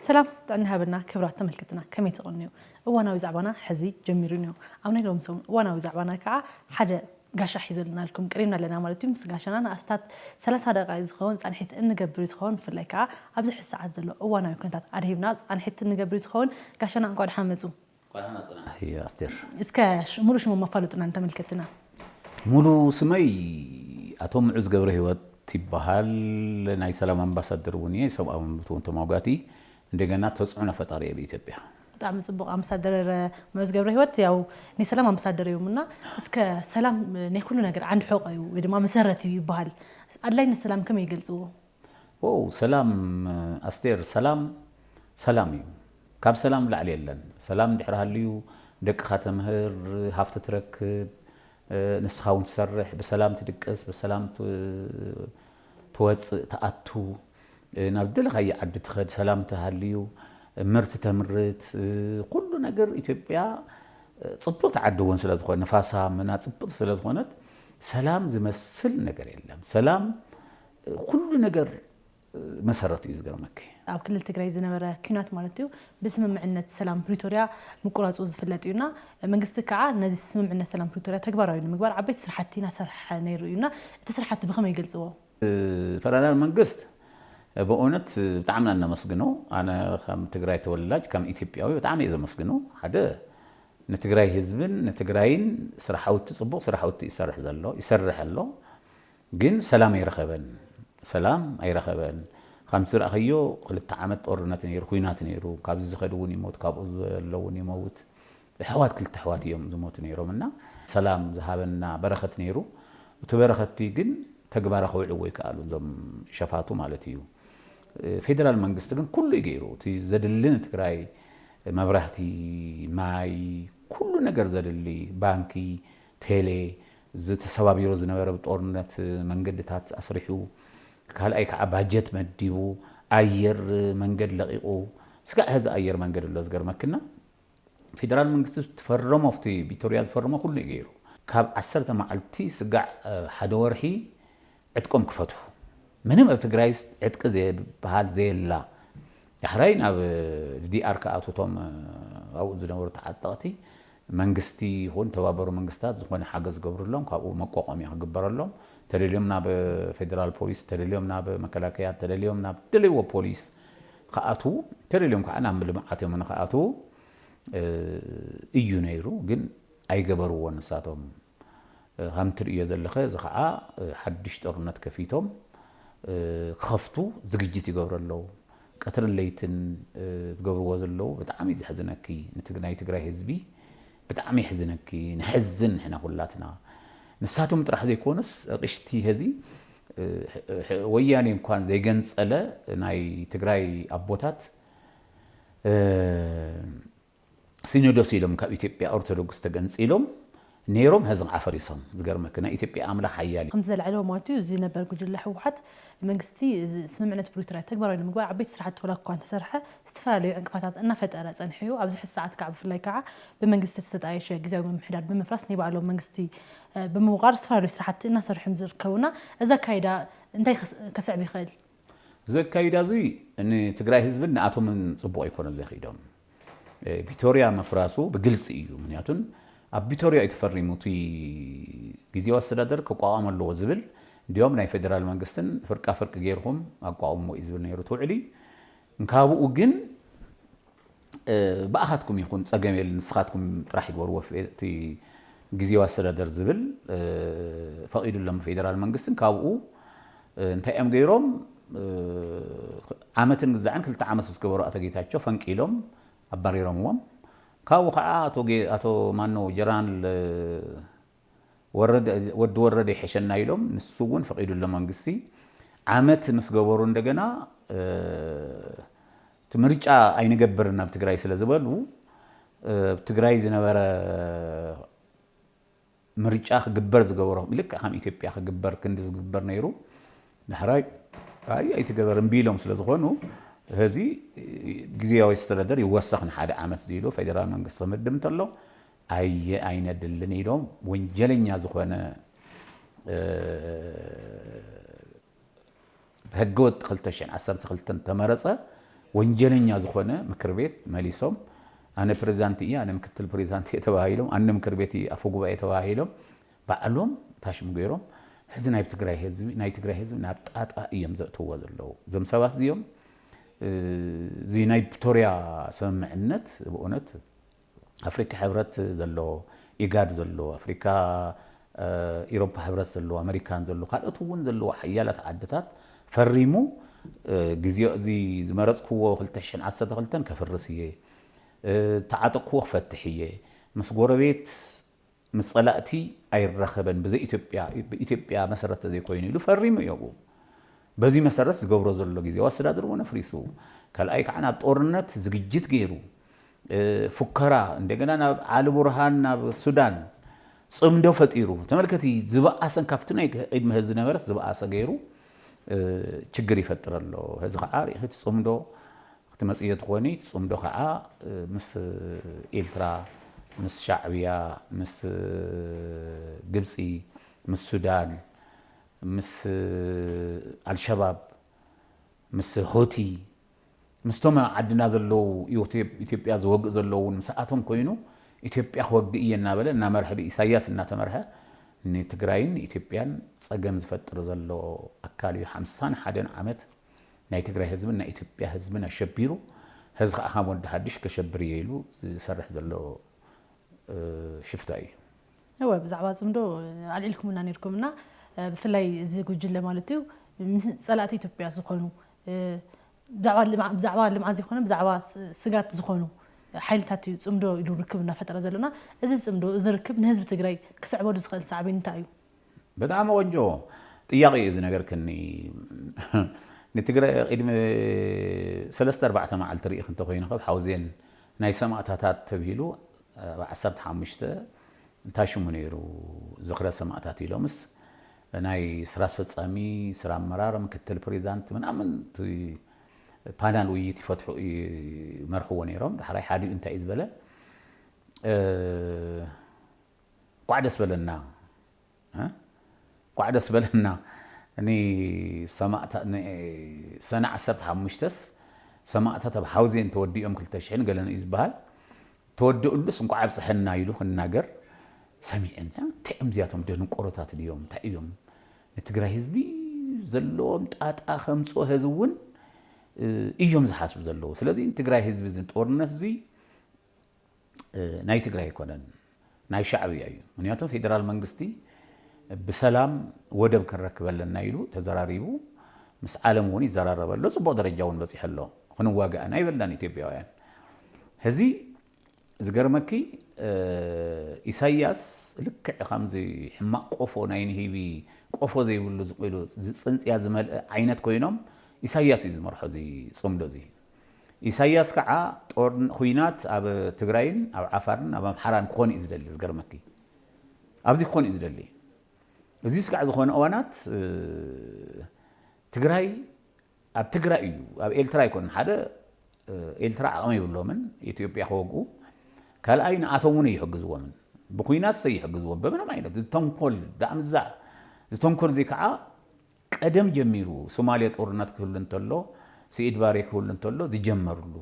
ሰላም ጥዕና ሃበና ክብራት ተመልከትና ከመይ ትቕንዩ እዋናዊ ዛዕባና ሕዚ ጀሚሩ እኒኦ ኣብ ናይ ሎም ሰሙን እዋናዊ ዛዕባና ከዓ ሓደ ጋሻ ሒዘልናልኩም ቅሪብና ኣለና ማለት እዩ ምስ ጋሻና ንኣስታት ሰላሳ ደቃ ዝኸውን ፃንሒት እንገብር ዝኸውን ብፍላይ ከዓ ኣብዚ ሕዚ ሰዓት ዘሎ እዋናዊ ኩነታት ኣድሂብና ፃንሒት እንገብር ዝኸውን ጋሻና እንኳ ደሓን መፁ እስከ ሙሉ ሽሞም ኣፋልጡና ንተመልከትትና። ሙሉ ስመይ ኣቶ ምዑዝ ገብረሂወት ይበሃል ናይ ሰላም ኣምባሳደር እውን እየ ሰብኣዊ መብት እውን ተሟጋቲ እንደገና ተፅዕኖ ፈጣሪ እየ ኣብ ኢትዮጵያ። ብጣዕሚ ፅቡቅ ኣምባሳደር ምዑዝ ገብረሂወት ያው ናይ ሰላም ኣምባሳደር እዮም እና እስከ ሰላም ናይ ኩሉ ነገር ዓንዲ ሕቆ እዩ ወይ ድማ መሰረት እዩ ይበሃል ኣድላይነት ሰላም ከመይ ይገልፅዎ? ዎው ሰላም ኣስቴር ሰላም ሰላም እዩ ካብ ሰላም ላዕሊ የለን ሰላም እንድሕር ሃልዩ ደቅኻ ተምህር ሃፍቲ ትረክብ ንስኻ ውን ትሰርሕ ብሰላም ትድቅስ ብሰላም ትወፅእ ትኣቱ ናብ ዝደለኻዮ ዓዲ ትኸድ ሰላም ተሃልዩ ምርት ተምርት ኩሉ ነገር ኢትዮጵያ ፅብቕቲ ዓዲ እውን ስለዝኾነ ንፋሳ ምና ፅብቕቲ ስለዝኾነት ሰላም ዝመስል ነገር የለም ሰላም ኩሉ ነገር መሰረቱ እዩ ዝገርመኪ። ኣብ ክልል ትግራይ ዝነበረ ኲናት ማለት እዩ ብስምምዕነት ሰላም ፕሪቶርያ ምቁራፁ ዝፍለጥ እዩ እና መንግስቲ ከዓ ነዚ ስምምዕነት ሰላም ፕሪቶርያ ተግባራዊ ንምግባር ዓበይቲ ስራሕቲ እናሰርሐ ነይሩ እዩ እና እቲ ስራሕቲ ብኸመይ ይገልፅዎ? ፈደራል መንግስት ብእውነት ብጣዕሚ ኢና እነመስግኖ። ኣነ ከም ትግራይ ተወላጅ ከም ኢትዮጵያዊ ብጣዕሚ እየ ዘመስግኖ። ሓደ ንትግራይ ህዝብን ንትግራይን ስራሕውቲ ፅቡቕ ስራሕውቲ ይሰርሕ ዘሎ ይሰርሕ ኣሎ። ግን ሰላም ኣይረኸበን ሰላም ኣይረኸበን ከምቲ ዝረኣኸዮ ክልተ ዓመት ጦርነት ነይሩ ኩናት ነይሩ ካብዚ ዝኸድ እውን ይሞት ካብኡ ዘሎ እውን ይመውት ኣሕዋት ክልተ ኣሕዋት እዮም ዝሞቱ ነይሮም እና ሰላም ዝሃበና በረኸት ነይሩ እቲ በረኸቲ ግን ተግባራ ክውዕልዎ ይከኣሉ እዞም ሸፋቱ ማለት እዩ ፌደራል መንግስቲ ግን ኩሉ እዩ ገይሩ እቲ ዘድሊ ንትግራይ መብራህቲ ማይ ኩሉ ነገር ዘድሊ ባንኪ ቴሌ እዚ ተሰባቢሩ ዝነበረ ብጦርነት መንገድታት ኣስሪሑ፣ ካልኣይ ከዓ ባጀት መዲቡ ኣየር መንገድ ለቒቑ ስጋዕ ሐዚ ኣየር መንገድ ኣሎ ዝገርመክና ፌደራል መንግስቲ ትፈረሞ ኣብቲ ቢቶርያ ዝፈረሞ ኩሉ እዩ ገይሩ ካብ ዓሰርተ መዓልቲ ስጋዕ ሓደ ወርሒ ዕጥቆም ክፈትሑ ምንም ኣብ ትግራይስ ዕጥቂ ዝብሃል ዘየላ ዳሕራይ ናብ ዲዲኣር ክኣትዉ እቶም ኣብኡ ዝነበሩ ተዓጠቕቲ መንግስቲ ይኹን ተባበሩ መንግስታት ዝኾነ ሓገዝ ዝገብርሎም ካብኡ መቋቋምያ ክግበረሎም ተደልዮም ናብ ፌደራል ፖሊስ ተደልዮም ናብ መከላከያ ተደልዮም ናብ ደለይዎ ፖሊስ ክኣትዉ ተደልዮም ከዓ ናብ ልምዓት እዮም ንክኣትዉ እዩ ነይሩ ግን ኣይገበርዎን ንሳቶም ካም ትርእዮ ዘለኸ እዚ ከኣ ሓዱሽ ጦርነት ከፊቶም ክኸፍቱ ዝግጅት ይገብሩ ኣለዉ ቀትርን ለይትን ዝገብርዎ ዘለዉ ብጣዕሚ እዩ ዘሕዝነኪ ናይ ትግራይ ህዝቢ ብጣዕሚ የሕዝነኪ ንሕዝን ንሕና ኩላትና ንሳቶም ጥራሕ ዘይኮኑስ ኣቅሽቲ ሀዚ ወያኔ እንኳን ዘይገንጸለ ናይ ትግራይ ኣቦታት ሲኖዶስ ኢሎም ካብ ኢትዮጵያ ኦርቶዶክስ ተገንጺሎም ኔሮም ሀዚ ከዓ ፈሪሶም ዝገርመኪ ናይ ኢትዮጵያ ኣምላክ ሀያል እዩ። ከምቲ ዘልዐልዎ ማለት'ዩ እዚ ነበር ጉጅለ ህወሓት መንግስቲ ስምምዕነት ፕሪቶርያ ተግባራዊ ንምግባር ዓበይቲ ስራሕቲ ዋላኳ እንተሰርሐ ዝተፈላለዩ ዕንቅፋታት እናፈጠረ ፀኒሑ'ዩ ኣብዚ ሕዚ ሰዓት ከዓ ብፍላይ ከዓ ብመንግስቲ ዝተጣየሸ ግዝያዊ ምምሕዳር ብምፍራስ ናይ ባዕሎም መንግስቲ ብምውቓር ዝተፈላለዩ ስራሕቲ እናሰርሑ እዮም ዝርከቡና እዚ ኣካይዳ እንታይ ከስዕብ ይኽእል? እዚ ኣካይዳ እዙይ ንትግራይ ህዝብን ንኣቶምን ፅቡቕ ኣይኮነን ዘኺዶም። ቢቶርያ ምፍራሱ ብግልፂ እዩ። ምክንያቱን ኣብ ቢቶርያ እዩ ተፈሪሙ እቲ ግዜያዊ ኣስተዳደር ክቋቋም ኣለዎ ዝብል እንዲያውም ናይ ፌደራል መንግስትን ፍርቃ ፍርቂ ገይርኹም ኣቋቑምዎ እዩ ዝብል ነይሩ እቲ ውዕሊ። እንካብኡ ግን ብኣኻትኩም ይኹን ፀገም የለን ንስኻትኩም ጥራሕ ይግበርዎ እቲ ግዝየዊ ኣስተዳደር ዝብል ፈቂዱ ኣሎ ፌደራል መንግስቲ እንካብኡ እንታይ እዮም ገይሮም ዓመትን ግዛዕን ክልተ ዓመት ምስ ገበሩ ኣቶ ጌታቸው ፈንቂሎም ኣባሪሮምዎም ካብኡ ከዓ ኣቶ ማነው ጀነራል ወዲ ወረደ ይሐሸና ኢሎም ንሱ እውን ፈቂዱሎም መንግስቲ ዓመት ምስ ገበሩ እንደገና እቲ ምርጫ ኣይንገብርን ኣብ ትግራይ ስለ ዝበሉ ኣብ ትግራይ ዝነበረ ምርጫ ክግበር ዝገበሮ ልክዕ ከም ኢትዮጵያ ክግበር ክንዲ ዝግበር ነይሩ ዳሕራይ ኣይ ኣይትገበር እምቢ ኢሎም ስለ ዝኾኑ እዚ ግዜያዊ ኣስተዳደር ይወሰኽ ንሓደ ዓመት ዝኢሉ ፌደራል መንግስቲ ክምድብ እንተሎ ኣየ ኣይነድልን ኢሎም ወንጀለኛ ዝኾነ ብሕገ ወጥ ክልተ ሽሕን ዓሰርተ ክልተን ተመረፀ ወንጀለኛ ዝኾነ ምክር ቤት መሊሶም ኣነ ፕሬዚዳንት እየ ኣነ ምክትል ፕሬዚዳንት እየ ተባሂሎም ኣነ ምክር ቤት እየ ኣፈ ጉባኤ ተባሂሎም ባዕሎም ታሽሙ ገይሮም ሕዚ ናይ ትግራይ ህዝቢ ናይ ትግራይ ህዝቢ ናብ ጣጣ እዮም ዘእትዎ ዘለዉ እዞም ሰባት እዚኦም እዚ ናይ ፕቶሪያ ስምምዕነት ብእውነት ኣፍሪካ ሕብረት ዘሎ ኢጋድ ዘሎ ኣፍሪካ ኢሮፓ ሕብረት ዘሎ ኣመሪካን ዘሎ ካልኦት እውን ዘለዎ ሓያላት ዓድታት ፈሪሙ ግዜ እዚ ዝመረፅክዎ ክልተ ሽሕን ዓሰርተ ክልተን ከፍርስ እየ ዝተዓጠቅክዎ ክፈትሕ እየ ምስ ጎረቤት ምስ ፀላእቲ ኣይራኸበን ብዘይ ኢትዮጵያ ብኢትዮጵያ መሰረት ተዘይኮይኑ ኢሉ ፈሪሙ እዩ ኣብኡ በዚ መሰረት ዝገብሮ ዘሎ ግዜያዊ ኣስተዳደር እውን ኣፍሪሱ ካልኣይ ከዓ ናብ ጦርነት ዝግጅት ገይሩ ፉከራ እንደገና ናብ ዓሊ ቡርሃን ናብ ሱዳን ፅምዶ ፈጢሩ ተመልከቲ ዝበኣሰን ካብቲ ናይ ቅድሚ ህዚ ዝነበረስ ዝበኣሰ ገይሩ ችግር ይፈጥር ኣሎ ህዚ ከዓ ርኢኺ እቲ ፅምዶ ክትመጽዮ ትኾኒ ትጽምዶ ከኣ ምስ ኢልትራ ምስ ሻዕብያ ምስ ግብጺ ምስ ሱዳን ምስ ኣልሸባብ ምስ ሆቲ ምስቶም ዓድና ዘለዉ ኢትዮጵያ ዝወግእ ዘሎ እውን ምስኣቶም ኮይኑ ኢትዮጵያ ክወግእ እየ እናበለ እናመርሐ ብኢሳያስ እናተመርሐ ንትግራይን ኢትዮጵያን ጸገም ዝፈጥር ዘሎ ኣካል እዩ ሓምሳን ሓደን ዓመት ናይ ትግራይ ህዝብን ናይ ኢትዮጵያ ህዝብን ኣሸቢሩ ሀዚ ከዓ ከም ወዲ ሀዲሽ ከሸብር እየ ኢሉ ዝሰርሕ ዘሎ ሽፍታ እዩ። እወ ብዛዕባ ፅምዶ ኣልዒልኩምልና ነይርኩም እና ብፍላይ እዚ ጉጅለ ማለት እዩ ምስ ፀላእቲ ኢትዮጵያ ዝኾኑ ብዛዕባ ልምዓት ዘይኮነ ብዛዕባ ስጋት ዝኾኑ ሓይልታት እዩ ፅምዶ ኢሉ ርክብ እናፈጠረ ዘሎና እዚ ፅምዶ እዚ ርክብ ንህዝቢ ትግራይ ክስዕበሉ ዝኽእል ሳዕቤን እንታይ እዩ? ብጣዕሚ ቆንጆ ጥያቄ እዩ ዝነገርክኒ ንትግረ ቂድሚ ሰለስተ ኣርባዕተ ማዓልቲ ሪኢኪ እንተኮይኑ ከብ ሓውዜን ናይ ሰማእታታት ተብሂሉ ኣብ ዓሰርተ ሓሙሽተ እንታይ ሽሙ ነይሩ ዝክረ ሰማእታት ኢሎምስ ናይ ስራ ኣስፈፃሚ ስራ ኣመራር ምክትል ፕሬዛንት ምናምን እቲ ፓናል ውይይት ይፈትሑ ይመርሕዎ ነይሮም ዳሕራይ ሓዲኡ እንታይ እዩ ዝበለ እንኳዕ ደስ በለና እንኳዕ ደስ በለና ን ሰማእታ ን ሰነ ዓሰርተ ሓሙሽተስ ሰማእታት ኣብ ሓውዜን ተወዲኦም ክልተ ሽሕን ገለን እዩ ዝበሃል ተወድኡሉስ እንኳዕ ኣብፀሐና ኢሉ ክናገር ሰሚዐ እንታይ እዮም እዚኣቶም ደንቆሮታት ድዮም እንታይ እዮም ንትግራይ ህዝቢ ዘለዎም ጣጣ ከምፅኦ ህዚ እውን እዮም ዝሓስቡ ዘለዉ ስለዚ ትግራይ ህዝቢ እዚ ጦርነት እዙይ ናይ ትግራይ ኣይኮነን ናይ ሻዕብያ እዩ ምክንያቱ ፌደራል መንግስቲ ብሰላም ወደብ ክንረክብ ኣለና ኢሉ ተዘራሪቡ ምስ ዓለም እውን ይዘራረበ ኣሎ ፅቡቅ ደረጃ እውን በፂሐ ኣሎ ክንዋጋእ ኢና ይበላን ኢትዮጵያውያን ሕዚ ዝገርመኪ ኢሳያስ ልክዕ ከምዚ ሕማቅ ቆፎ ናይ ንሂቢ ቆፎ ዘይብሉ ዝቁሉ ዝፅንፅያ ዝመልአ ዓይነት ኮይኖም ኢሳያስ እዩ ዝመርሖ እዚ ፅምዶ እዚ ኢሳያስ ካዓ ጦር ኹናት ኣብ ትግራይን ኣብ ዓፋርን ኣብ ኣምሓራን ክኾን እዩ ዝደሊ ዝገርመኪ ኣብዚ ክኾን እዩ ዝደሊ እዚ ስጋዕ ዝኾነ እዋናት ትግራይ ኣብ ትግራይ እዩ ኣብ ኤልትራ ኣይኮን ሓደ ኤልትራ ዓቕሚ ይብሎምን ኢትዮጵያ ክወግኡ ካልኣይ ንኣቶም እውን ኣይሕግዝዎምን ብኩናት ሰይሕግዝዎም በምንም ዓይነት ዝተንኮል ዳኣምዛ ዝተንኮል እዚ ከዓ ቀደም ጀሚሩ ሱማሌ ጦርነት ክህሉ እንተሎ ስኢድ ባሬ ክህሉ እንተሎ ዝጀመርሉ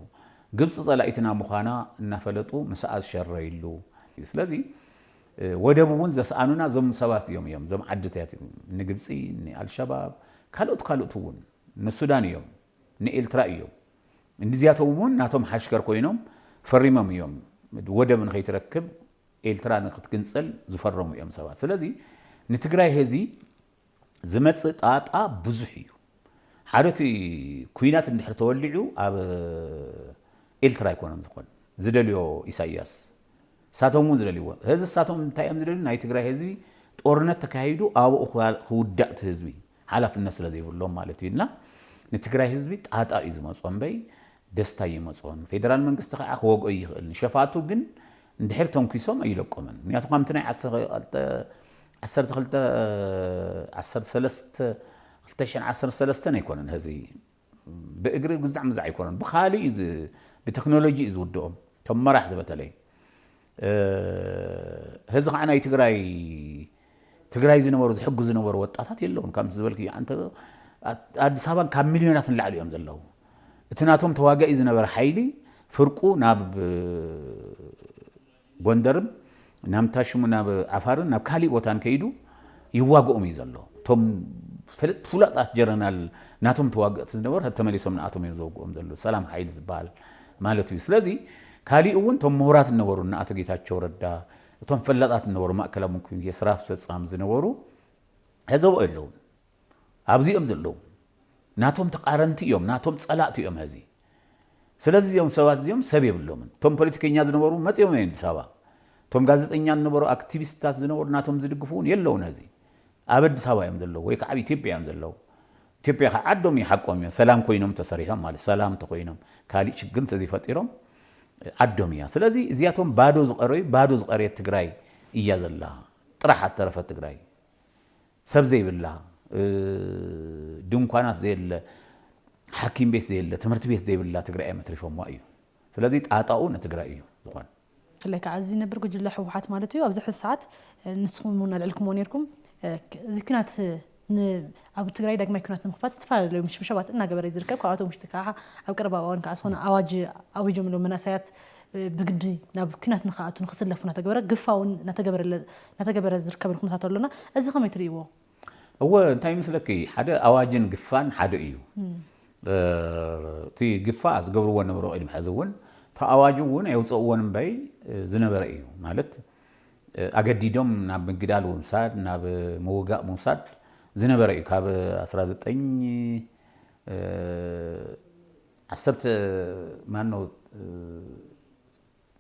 ግብፂ ፀላኢትና ምዃና እናፈለጡ ምስኣ ዝሸረይሉ ስለዚ ወደብ እውን ዘስኣኑና እዞም ሰባት እዮም እዮም እዞም ዓድታት እዮም ንግብፂ ንኣልሸባብ ካልኦት ካልኦት እውን ንሱዳን እዮም ንኤልትራ እዮም እንዲዚያቶም እውን ናቶም ሓሽከር ኮይኖም ፈሪሞም እዮም ወደብ ንኸይትረክብ ኤልትራ ንክትግንፀል ዝፈረሙ እዮም ሰባት ስለዚ ንትግራይ ህዚ ዝመጽእ ጣጣ ብዙሕ እዩ ሓደ እቲ ኩናት እንድሕር ተወሊዑ ኣብ ኤልትራ ኣይኮነን ዝኾን ዝደልዮ ኢሳያስ ሳቶም እውን ዝደልይዎ ህዚ ሳቶም እንታይ እዮም ዝደልዩ ናይ ትግራይ ህዝቢ ጦርነት ተካሂዱ ኣብኡ ክውዳእ እቲ ህዝቢ ሓላፍነት ስለ ዘይብሎም ማለት እዩ እና ንትግራይ ህዝቢ ጣጣ እዩ ዝመጾ እምበይ ደስታ ኣይመጾን ፌደራል መንግስቲ ከኣ ክወግኦ ይኽእል ንሸፋቱ ግን እንድሕር ተንኪሶም ኣይለቆምን ምክንያቱ ከምቲ ናይ ዓሰርተ ክልተ ዓሰርተ ሰለስተ ክልተ ሽሕን ዓሰርተ ሰለስተን ኣይኮነን ሀዚ ብእግሪ ግዛዕ ምዛዕ ኣይኮነን ብካልእ እዩ ብቴክኖሎጂ እዩ ዝውድኦም እቶም መራሕቲ በተለይ ሀዚ ከዓ ናይ ትግራይ ትግራይ ዝነበሩ ዝሕግዙ ዝነበሩ ወጣታት የለውን ከምቲ ዝበልክዮ ኣንተ ኣዲስ ኣበባ ካብ ሚልዮናት ንላዕሊ እዮም ዘለዉ እቲ ናቶም ተዋጋኢ ዝነበረ ሓይሊ ፍርቁ ናብ ጎንደርን ናብ እንታይ ሽሙ ናብ ዓፋርን ናብ ካሊእ ቦታን ከይዱ ይዋግኦም እዩ ዘሎ እቶም ፈለጥ ፍሉጣት ጀረናል ናቶም ተዋገእቲ ዝነበሩ ተመሊሶም ንኣቶም እዮም ዘውግኦም ዘሎ ሰላም ሓይሊ ዝበሃል ማለት እዩ ስለዚ ካሊእ እውን እቶም ምሁራት ዝነበሩ ንኣቶ ጌታቸው ረዳ እቶም ፈላጣት ዝነበሩ ማእከላይ እምም ኮሚቴ ስራ ኣስፈፃሚ ዝነበሩ ሐዚ ኣብኡ የለውን ኣብዚ እዮም ዘለዉ ናቶም ተቃረንቲ እዮም ናቶም ፀላእቲ እዮም ሐዚ ስለዚ እዚኦም ሰባት እዚኦም ሰብ የብሎምን እቶም ፖለቲከኛ ዝነበሩ መፂኦም እዮም ኣዲስ ኣበባ እቶም ጋዜጠኛ ዝነበሩ ኣክቲቪስትታት ዝነበሩ ናቶም ዝድግፉ እውን የለውን ሐዚ ኣብ ኣዲስ ኣበባ እዮም ዘለዉ ወይ ከዓ ኣብ ኢትዮጵያ እዮም ዘለዉ ኢትዮጵያ ከ ዓዶም እዩ ሓቆም እዮም ሰላም ኮይኖም ተሰሪሖም ማለት ሰላም ተኮይኖም ካሊእ ሽግር እንተዘይፈጢሮም ዓዶም እያ ስለዚ እዚኣቶም ባዶ ዝቀረዩ ባዶ ዝቀረየት ትግራይ እያ ዘላ ጥራሕ ኣተረፈ ትግራይ ሰብ ዘይብላ ድንኳናት ዘየለ ሓኪም ቤት ዘየለ ትምህርቲ ቤት ዘይብላ ትግራይ እዮም ኣትሪፎምዋ እዩ ስለዚ ጣጣኡ ንትግራይ እዩ ዝኾን ብፍላይ ካዓ እዚ ነበር ጉጅለ ህወሓት ማለት እዩ ኣብዚ ሕዚ ሰዓት ንስኹም እውን ኣልዕልኩምዎ ነይርኩም እዚ ኩናት ኣብ ትግራይ ዳግማይ ኩናት ንምክፋት ዝተፈላለዩ ምሽብሻባት እናገበረ ዝርከብ ካብኣቶም ውሽጢ ከዓ ኣብ ቀረባ እዋን ከዓ ዝኾነ ኣዋጅ ኣዊጆምሎም መናእሰያት ብግዲ ናብ ኩናት ንክኣቱ ንክስለፉ እናተገበረ ግፋውን እናተገበረ ዝርከበሉ ኩነታት ኣሎና እዚ ከመይ ትርእይዎ እወ እንታይ ይመስለኪ ሓደ ኣዋጅን ግፋን ሓደ እዩ እቲ ግፋ ዝገብርዎ ነበሩ ቅድሚ ሕዚ እውን እቲ ኣዋጅ እውን ኣየውፀእዎን እምበይ ዝነበረ እዩ ማለት ኣገዲዶም ናብ ምግዳል ምውሳድ ናብ ምውጋእ ምውሳድ ዝነበረ እዩ ካብ 19 ዓሰርተ ማነው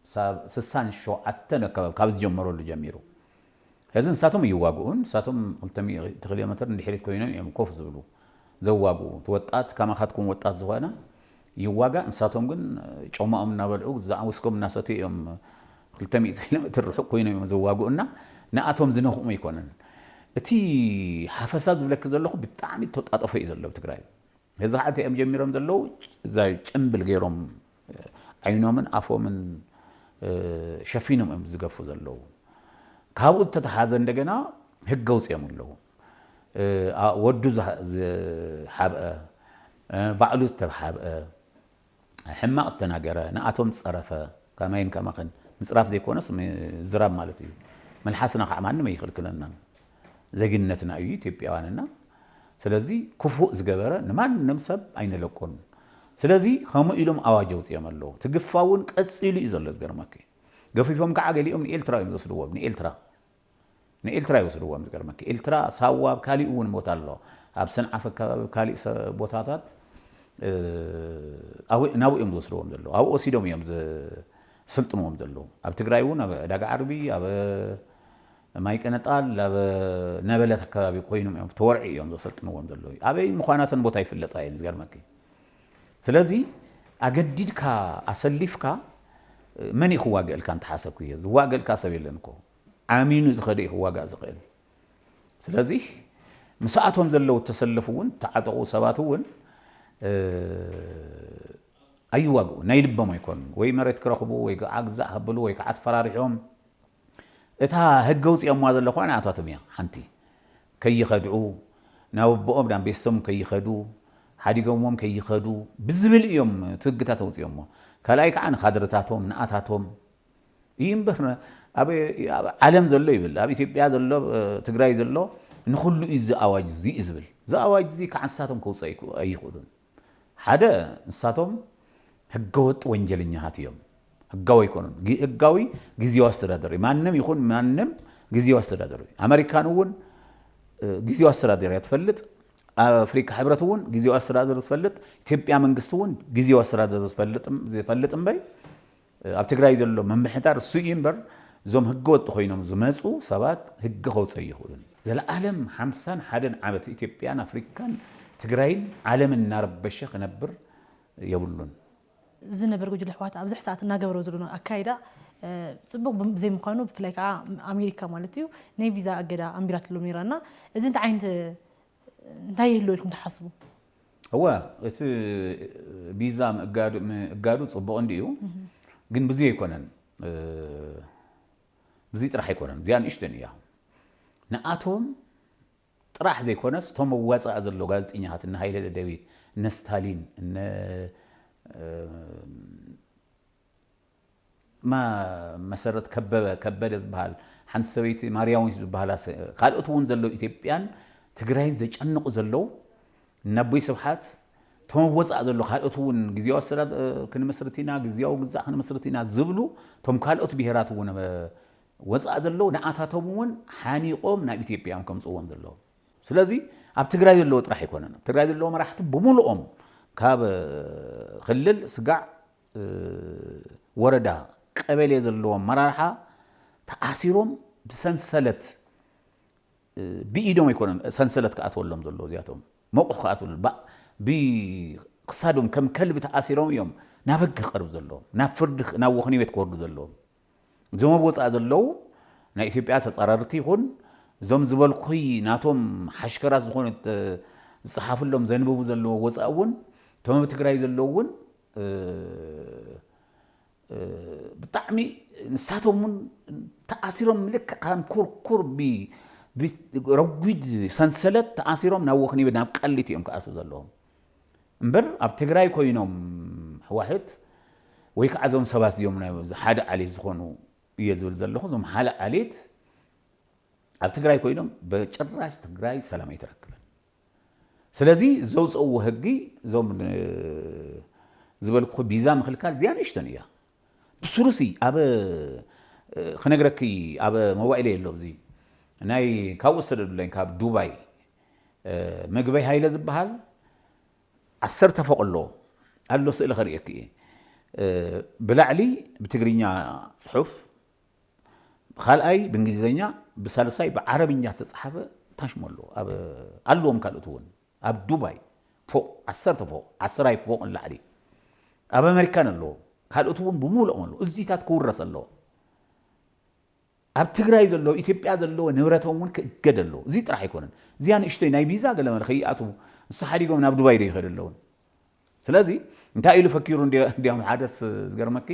ክሳብ ስሳን ሸውዓተን ኣከባቢ ካብ ዝጀመረሉ ጀሚሩ ሕዚ ንሳቶም እይዋግኡን። ንሳቶም ክልተ ሚእቲ ኪሎ ሜትር ንድሕሪት ኮይኖም እዮም ኮፍ ዝብሉ ዘዋግኡ። እቲ ወጣት ከማኻትኩም ወጣት ዝኾነ ይዋጋእ፣ ንሳቶም ግን ጮማኦም እናበልዑ ግዛዕ ውስኮም እናሰትዩ እዮም ክልተ ሚእቲ ኪሎ ሜትር ርሑቕ ኮይኖም እዮም ዘዋግኡ እና ንኣቶም ዝነኽኡም ኣይኮነን። እቲ ሓፈሳ ዝብለኪ ዘለኹ ብጣዕሚ ተጣጠፎ እዩ ዘሎ ኣብ ትግራይ። ሀዚ ኸዓ እንታይ እዮም ጀሚሮም ዘለዉ እዛ ጭምብል ገይሮም ዓይኖምን ኣፎምን ሸፊኖም እዮም ዝገፉ ዘለዉ ካብኡ ዝተተሓዘ እንደገና ህግ ኣውፂኦም ኣለዉ ወዱ ዝሓብአ ባዕሉ ዝተሓብአ ሕማቅ እተናገረ ንኣቶም ጸረፈ ከማይን ከማኽን ምጽራፍ ዘይኮነስ ምዝራብ ማለት እዩ መልሓስና ካዓ ማንም ኣይኽልክለናን ዜግነትና እዩ ኢትዮጵያውያን እና ስለዚ ክፉእ ዝገበረ ንማንም ሰብ ኣይንለቆን ስለዚ ከምኡ ኢሎም ኣዋጅ ኣውጽኦም ኣለዉ እቲ ግፋ እውን ቀጺሉ እዩ ዘሎ ዝገርመኪ ገፊፎም ካዓ ገሊኦም ንኤልትራ እዮም ዝወስድዎም ንኤልትራ ንኤልትራ ይወስድዎም ዝገርመኪ ኤልትራ ሳዋ ኣብ ካሊእ እውን ቦታ ኣሎ ኣብ ሰንዓፈ ኣከባቢ ኣብ ካሊእ ቦታታት ናብኡ እዮም ዝወስድዎም ዘለዉ ኣብኡ ወሲዶም እዮም ዝስልጥንዎም ዘለዉ ኣብ ትግራይ እውን ኣብ ዕዳጋ ዓርቢ ኣብ ማይ ቀነጣል ኣብ ነበለት ኣከባቢ ኮይኖም እዮም ተወርዒ እዮም ዘሰልጥንዎም ዘለዉ ኣበይ ምዃናተን ቦታ ይፍለጣ እየን ዝገርመኪ ስለዚ ኣገዲድካ ኣሰሊፍካ መን እዩ ክዋግእልካ እንተሓሰብኩ እየ ዝዋግእልካ ሰብ የለን እኮ ኣሚኑ ዝኸደ እዩ ክዋጋእ ዝኽእል ስለዚ ምሳኣቶም ዘለዉ እተሰለፉ እውን እተዓጠቑ ሰባት እውን ኣይዋግኡ ናይ ልቦም ኣይኮኑን ወይ መሬት ክረኽቡ ወይ ከዓ ግዛእ ከብሉ ወይ ከዓ ተፈራሪሖም እታ ህገ ውፅኦምዋ ዘሎ ኳ ንኣታቶም እያ ሓንቲ ከይኸድዑ ናብ ኣቦኦም ናብ ቤተሰቦም ከይኸዱ ሓዲጎምዎም ከይኸዱ ብዝብል እዮም እቲ ህግታት ኣውፅኦሞ ካልኣይ ከዓ ንካድርታቶም ንኣታቶም እዩ እምበር ኣብ ዓለም ዘሎ ይብል ኣብ ኢትዮጵያ ዘሎ ትግራይ ዘሎ ንኹሉ እዩ እዚ ኣዋጅ እዚ እዩ ዝብል እዚ ኣዋጅ እዚ ከዓ ንሳቶም ከውፅኦ ኣይኽእሉን ሓደ ንሳቶም ህገወጥ ወንጀለኛታት እዮም ህጋዊ ኣይኮኑን ህጋዊ ግዜያዊ ኣስተዳደር እዩ ማንም ይኹን ማንም ግዜያዊ ኣስተዳደር እዩ ኣመሪካን እውን ግዜያዊ ኣስተዳደር እያ ትፈልጥ ኣፍሪካ ሕብረት እውን ግዜያዊ ኣስተዳደር ዝፈልጥ ኢትዮጵያ መንግስቲ እውን ግዜያዊ ኣስተዳደር ዝፈልጥ እምበይ ኣብ ትግራይ ዘሎ ምምሕዳር እሱ እዩ እምበር እዞም ህገ ወጥ ኮይኖም ዝመፁ ሰባት ህጊ ከውፀ እይኽእሉን እዩ። ዘለኣለም ሓምሳን ሓደን ዓመት ኢትዮጵያን ኣፍሪካን ትግራይን ዓለምን እናረበሸ ክነብር የብሉን። ዝነበር ጉጅለ ህወሓት ኣብዚ ሕሰኣት እናገበሮ ዘሎ ኣካይዳ ፅቡቕ ብዘይምዃኑ ብፍላይ ከዓ ኣሜሪካ ማለት እዩ ናይ ቪዛ ኣገዳ ኣንቢራትሎም ነይራ እና እዚ እንታይ ዓይነት እንታይ ይህልወልኩም ትሓስቡ? እወ እቲ ቢዛ ምእጋዱ ጽቡቕ እንድዩ ግን ብዙይ ኣይኮነን ብዙይ ጥራሕ ኣይኮነን እዚኣ ንእሽቶን እያ ንኣቶም ጥራሕ ዘይኮነስ እቶም መዋጻእ ዘሎ ጋዜጠኛታት እነ ሃይለ ደደቢት እነ ስታሊን እነ መሰረት ከበበ፣ ከበደ፣ ዝበሃል ሓንቲ ሰበይቲ ማርያዊት ዝበሃላ ካልኦት እውን ዘለዉ ኢትዮጵያን ትግራይን ዘጨንቑ ዘለዉ እነቦይ ስብሓት እቶም ኣብ ወፃእ ዘሎ ካልኦት እውን ግዜያዊ ኣሰዳ ክንምስርት ኢና ግዜያዊ ግዛእ ክንምስርት ኢና ዝብሉ እቶም ካልኦት ብሄራት እውን ወፃእ ዘለዉ ንኣታቶም እውን ሓኒቖም ናብ ኢትዮጵያ እዮም ከምፅዎም ዘለዉ ስለዚ ኣብ ትግራይ ዘለዎ ጥራሕ ኣይኮነን ኣብ ትግራይ ዘለዎ መራሕቲ ብምልኦም ካብ ክልል ስጋዕ ወረዳ ቀበሌ ዘለዉ ኣመራርሓ ተኣሲሮም ብሰንሰለት ብኢዶም ኣይኮነን ሰንሰለት ክኣትወሎም ዘለዎ እዚኣቶም መቑሕ ክኣትወሉ ብክሳዶም ከም ከልቢ ተኣሲሮም እዮም ናብ ህጊ ክቐርብ ዘለዎም ናብ ፍርዲ ናብ ወኽኒ ቤት ክወርዱ ዘለዎም እዞም ኣብ ወጻኢ ዘለዉ ናይ ኢትዮጵያ ተጻራርቲ ይኹን እዞም ዝበልኩኺ ናቶም ሓሽከራት ዝኾኑ ዝጸሓፍሎም ዘንብቡ ዘለዎ ወጻኢ እውን እቶም ኣብ ትግራይ ዘለዉ እውን ብጣዕሚ ንሳቶም እውን ተኣሲሮም ልክዕ ከም ኩርኩር ረጒድ ሰንሰለት ተኣሲሮም ናብ ወኽኒ ናብ ቃሊቲ እዮም ክኣትዉ ዘለዎም እምበር ኣብ ትግራይ ኮይኖም ሕዋሕት ወይ ከዓ እዞም ሰባት እዚኦም ናይ ሓደ ዓሌት ዝኾኑ እየ ዝብል ዘለኹ እዞም ሓደ ዓሌት ኣብ ትግራይ ኮይኖም በጭራሽ ትግራይ ሰላም ኣይትረክብን። ስለዚ ዘውፅእዎ ህጊ እዞም ዝበልኩ ቢዛ ምክልካል እዚኣ ንእሽተን እያ ብስሩሲ ኣብ ክነግረኪ ኣብ መዋኢለ የሎ እዚ ናይ ካብኡ ዝተደዱለኝ ካብ ዱባይ ምግበይ ሃይለ ዝብሃል ዓሰርተ ፎቕ ኣሎ ኣሎ ስእሊ ከርእየኪ እየ ብላዕሊ ብትግርኛ ፅሑፍ ብካልኣይ ብእንግሊዘኛ ብሳልሳይ ብዓረብኛ ዝተፅሓፈ ታሽሞ ኣሎ ኣለዎም ካልኦት እውን ኣብ ዱባይ ፎቕ ዓሰርተ ፎቕ ዓስራይ ፎቕ ንላዕሊ ኣብ ኣሜሪካን ኣለዎ ካልኦት እውን ብምሉኦም ኣለዎ እዚታት ክውረስ ኣለዎ ኣብ ትግራይ ዘሎ ኢትዮጵያ ዘለዎ ንብረቶም እውን ክእገድ ኣለዎ። እዚ ጥራሕ ኣይኮነን። እዚኣ ንእሽቶይ ናይ ቪዛ ገለመለ ከይኣትዉ ንሳ ሓዲጎም ናብ ዱባይ ዶ ይኸዱ ኣለዉ። ስለዚ እንታይ ኢሉ ፈኪሩ እንዲያውም ሓደስ ዝገርመኪ